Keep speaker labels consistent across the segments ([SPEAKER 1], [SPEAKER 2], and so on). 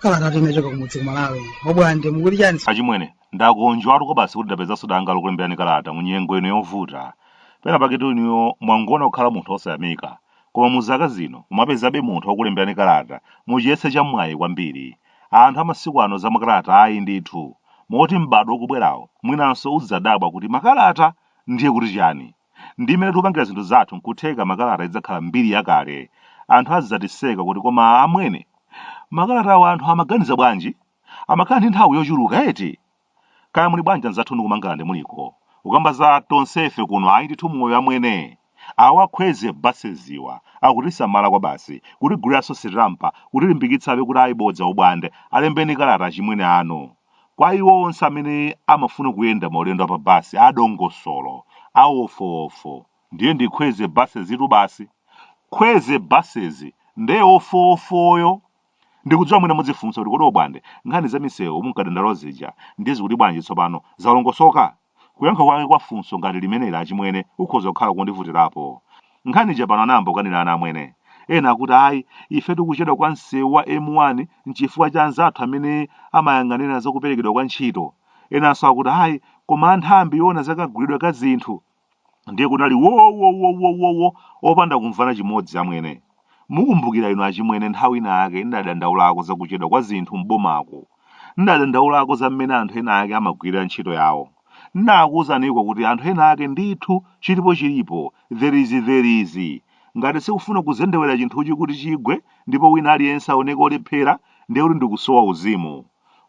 [SPEAKER 1] Kalata kuchoka kumudzi kumalawi obwande muli chani achimwene ndakondwatu kwabasi kuti ndapezanso danga lokulemberani kalata mu nyengo ino yovuta pena pake tu niye mwangoona kukhala munthu osayamika koma mu zaka zino mumapezabe munthu wakulemberani kalata muchiyese cha mwayi kwambiri Anthu a masiku ano za makalata ayi ndithu, moti m'badwo ukubwerawo mwinanso udzidzadabwa kuti makalata ndiye kuti chani? Ndi mmene tikupangira zinthu zathu nkutheka makalata idzakhala mbiri yakale. Anthu azidzatiseka kuti koma amwene, makalatawo anthu amaganiza bwanji? Amakhala ndi nthawi yochuluka eti? Kaya muli bwanji anzathu ndi ku Mangalande muliko. Kukamba za tonsefe kuno ayi ndithu moyo amwene. Awa a Khweze buses-wa akutisamala kwabasi, kutiguliranso sitampa, kutilimbikitsabe kuti ayi bodza ubwande, alembeni kalata achimwene anu. Kwa iwo onse amene amafuna kuyenda maulendo a pa bus a dongosolo, a wofowofo, ndiye ndi Khweze buses-tu basi. Khweze buses nde wofowofoyo Ndikudziwa mwina mudzifunsa kuti kodi Obwande, nkhani za misewu mumkadandaula zija ndiye zikuti bwanji tsopano? Zalongosoka? Kuyankha kwake kwa funso ngati limeneli achimwene kukhoza kukhala kondivutirapo. Nkhani ija pano anayamba kukanirana amwene. Ena akuti ayi, ifetu kuchedwa kwa msewu wa M1 n'chifukwa cha anzathu amene amayang'anira za kuperekedwa kwa ntchito. Enanso akuti ayi, koma a nthambi yoona za kagulidwe ka zinthu ndiye kunali wowowowowowo opanda kumvana chimodzi amwene mukumbukira inu achimwene nthawi ina yake ndidadandaulako za kuchedwa kwa zinthu m'bomako ndidadandaulako za mmene anthu ena ake amagwirira ntchito yawo ndinakuwuzaniko kuti anthu ena ake ndithu chilipo chilipo there is there is ngati sikufuna kuzendewera chinthuchi kuti chigwe ndipo wina aliyense aoneke olephera ndiye kuti ndikusowa uzimu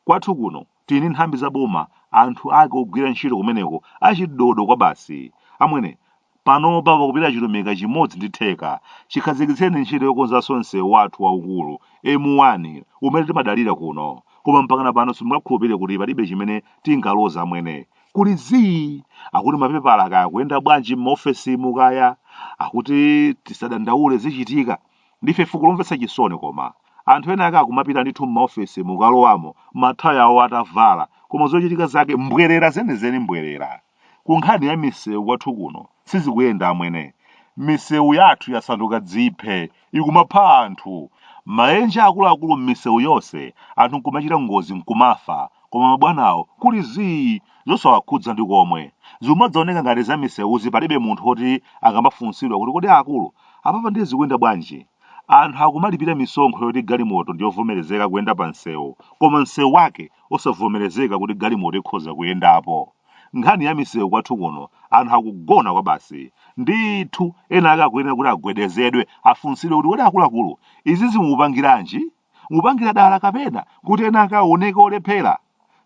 [SPEAKER 1] kwathu kuno Tili ndi nthambi za boma, anthu ake ogwira ntchito kumeneko achidodo kwabasi. Amwene, panopa pakupita chilumika chimodzi ndi theka chikhazikitseni ntchito yokonzanso msewu wathu waukulu, M1, umene timadalira kuno. Koma mpakana pano simungakhulupirire kuti palibe chimene tingaloze amwene. Kuli zii! Akuti mapepala kaya akuyenda bwanji m'maofesimu kaya? Akuti tisadandaule zichitika. Ndife fuko lomvetsa chisoni koma. Anthu ena ake akumapita ndithu m'maofesi mukalowamo mathayo awo atavala koma zochitika zake mbwerera zenizeni mbwerera. Ku nkhani ya misewu yathu kuno sizikuyenda amwene. Misewu yathu yasanduka dziphe ikumapha anthu. Maenje akuluakulu m'misewu yonse anthu nkumachita ngozi nkumafa koma mabwanawo kuli zii zosawakhudza ndi komwe. Zikumadzioneka ngati za misewuzi palibe munthu woti akamafunsidwa kuti kodi akulu, apapa ndiye zikuyenda bwanji? Anthu akumalipira misonkho yoti galimoto ndi yovomerezeka kuyenda pa msewu, koma msewu wake osavomerezeka kuti galimoto ikhoza kuyendapo. Nkhani ya misewu kwathu kuno, anthu akugona kwabasi. Ndithu, ena ake akuyenera kuti agwedezedwe, afunsidwe kuti kodi akuluakulu, izizi mukupangiranji? mukupangira dala kapena kuti ena ake aoneke olephera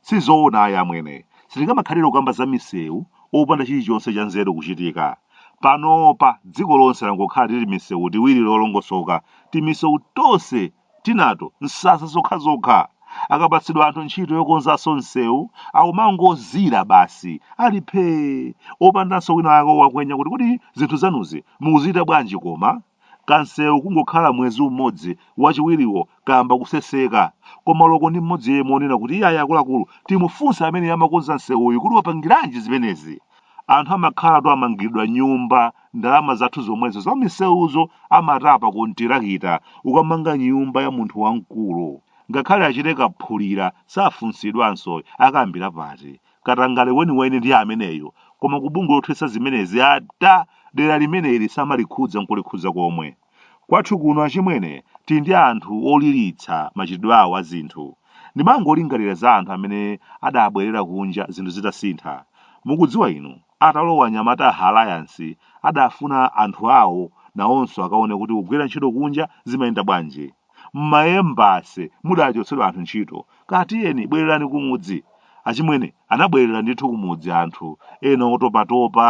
[SPEAKER 1] sizoona ayi amwene sitingamakhalire kukamba za misewu opanda chilichonse cha nzeru kuchitika panopa dziko lonse langokhala timisewu tiwiri tolongosoka timisewu tonse tinato nsasa zokhazokha akapatsidwa anthu ntchito yokonzanso msewu akumangozira basi ali phee opandanso wina wake owakwenya kuti kodi zinthu zanuzi mukuzichita bwanji koma Kansewu kungokhala mwezi umodzi wachiwiriwo kayamba kuseseka. Koma olo ndi mmodzi yemwe onena kuti iyayi akuluakulu timufunse amene amakonza nsewuyu kuti wapangiranji zimenezi. Anthu amakhalatu amangiridwa nyumba ndi ndalama zathu zomwezo za misewuzo amatapa kontirakita kukamanga nyumba ya munthu wamkulu. Ngakhale achite kaphulira safunsidwanso ayi akayambira pati. katangale weniweni ndiye ameneyo koma ku bungwe lothetsa zimenezi ata dera limeneli samalikhudza nkulikhudza komwe kwathu kuno achimwene tili ndi anthu oliritsa machitidwe awo a zinthu ndimangolingalira za anthu amene adabwerera kunja zinthu zitasintha mukudziwa inu atalowa anyamata a Alliance adafuna anthu awo nawonso akaone kuti kugwira ntchito kunja zimayenda bwanji M'maembasi mudachotsedwa anthu ntchito. Kaya tiyeni, bwererani kumudzi. Achimwene anabwerera ndithu kumudzi anthu ena otopatopa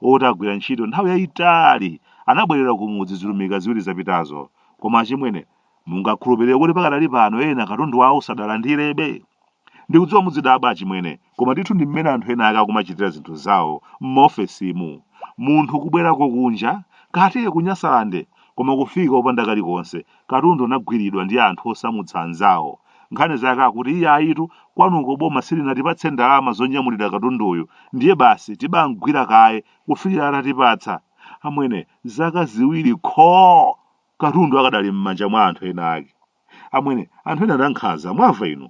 [SPEAKER 1] oti agwira ntchito nthawi yaitali anabwerera kumudzi zilumika ziwiri zapitazo. Koma achimwene, mungakhulupirire kuti pakadali pano ena katundu wawo sadalandirebe? Ndikudziwa muzidabwa achimwene, koma ndithu ndi mmene anthu ena ake akumachitira zinthu zawo m'maofesimu. Munthu kubwerako kunja, kuti ku Nyasalande, koma kufika opanda kalikonse, katundu anagwiridwa ndi anthu osamutsa anzawo. Nkhani zake akuti iyayitu, kwanuko boma silinatipatse ndalama zonyamulira katunduyu, ndiye basi tibam'gwira kaye kufikira atatipatsa. Amwene, zaka ziwiri khoo! Katundu akadali m'manja mwa anthu ena ake. Amwene, anthu ena ndankhaza, mwamva inu?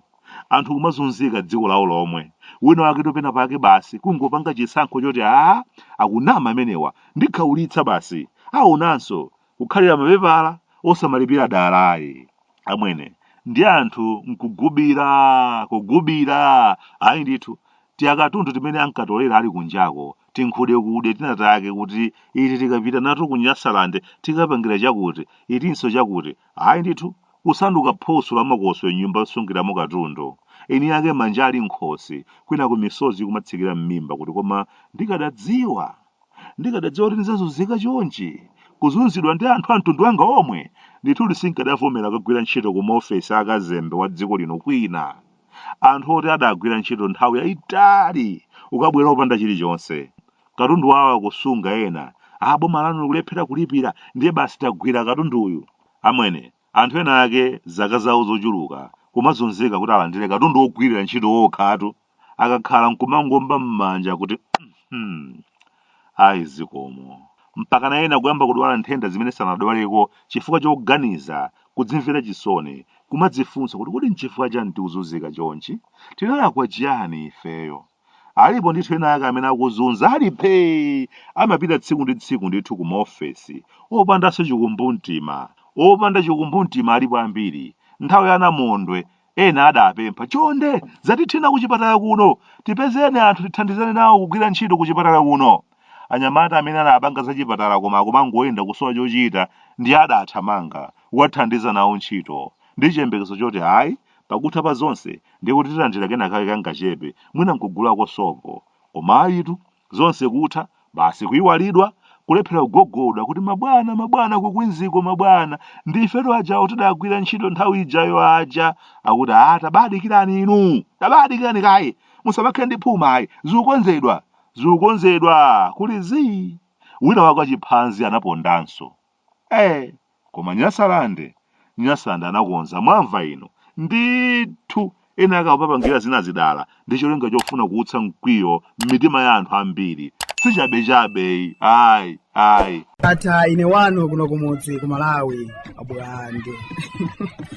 [SPEAKER 1] Anthu kumazunzika dziko lawo lomwe. Wina wake penapake basi kungopanga chisankho choti aa akunama amenewa ndikhaulitsa basi. Aonanso kukhalira mapepala osamalipira dala ayi. Amwene, ndi anthu nkugubira, kugubira. Ayi ndithu, tiakatundu timene ankatolera ali kunjako, tinkhudekude tina take kuti iti tikapita nato ku Nyasalande tikapangira chakuti, itinso chakuti. Ayi ndithu, kusanduka phoso la makoswe m'nyumba yosungiramo katundu, eniake manja ali m'khosi, kwinaku misozi ikumatsikira m'mimba kuti koma ndikadadziwa! Ndikadadziwa kuti ndidzazunzika chonchi, kuzunzidwa ndi anthu a mtundu wanga omwe! Ndithudi sinkadavomera kukagwira ntchito ku maofesi a kazembe wa dziko lino kwina. Anthu oti adagwira ntchito nthawi yaitali ukabwera opanda chilichonse! katundu wawo akusunga ena a boma lanu kulephera kulipira ndiye basi tagwira katundu uyu amwene anthu ena ake zaka zawo zochuluka kumazunzika kuti alandire katundu wogwirira ntchito wokhatu akakhala nkumangomba m'manja kuti "Mhm, ayi zikomo mpakana ena kuyamba kudwala nthenda zimene sanadwaleko chifukwa choganiza kudzimvera chisoni kumadzifunsa kuti kodi nchifukwa chani tikuzunzika chonchi tinalakwa chiyani ifeyo Alipo ndithu ena ake amene akuzunza ali phee! Amapita tsiku ndi tsiku ndithu ku maofesi, opandanso chikumbumtima. Opanda chikumbumtima alipo ambiri. Nthawi ya Namondwe, ena adapempha, Chonde, zatithina kuchipatala kuno! Tipezeni anthu tithandizane nawo kugwira ntchito kuchipatala kuno! Anyamata amene anapanga zachipatala koma akumangoyenda kusowa chochita ndiye adathamanga kukathandiza nawo ntchito, ndi chiyembekezo choti ayi, Pakutha pa zonse ndiye kuti tilandira kenakake kangachepe, mwina n'kugulako sopo. Koma ayitu, zonse kutha, basi kuiwalidwa, kulephera kugogoda kuti ma bwana, ma bwana ku Queens-ko ma bwana, ndi ifetu ajawo tidagwira ntchito nthawi ijayo aja, akuti aa tabadikirani inu, tabadikirani kaye, musamakhale ndi phuma ayi, zikukonzedwa, zikukonzedwa, kuli zii, wina wake wachiphanzi anapondanso. ee koma nyasalande nyasalande anakonza mwamva inu ndithu ena akupangira zinazi dala ndi cholinga chofuna kuutsa mkwiyo m'mitima ya anthu ambiri sichabechabeyi ayi ayi ndatha ine wanu kuno kumudzi ku malawi abwande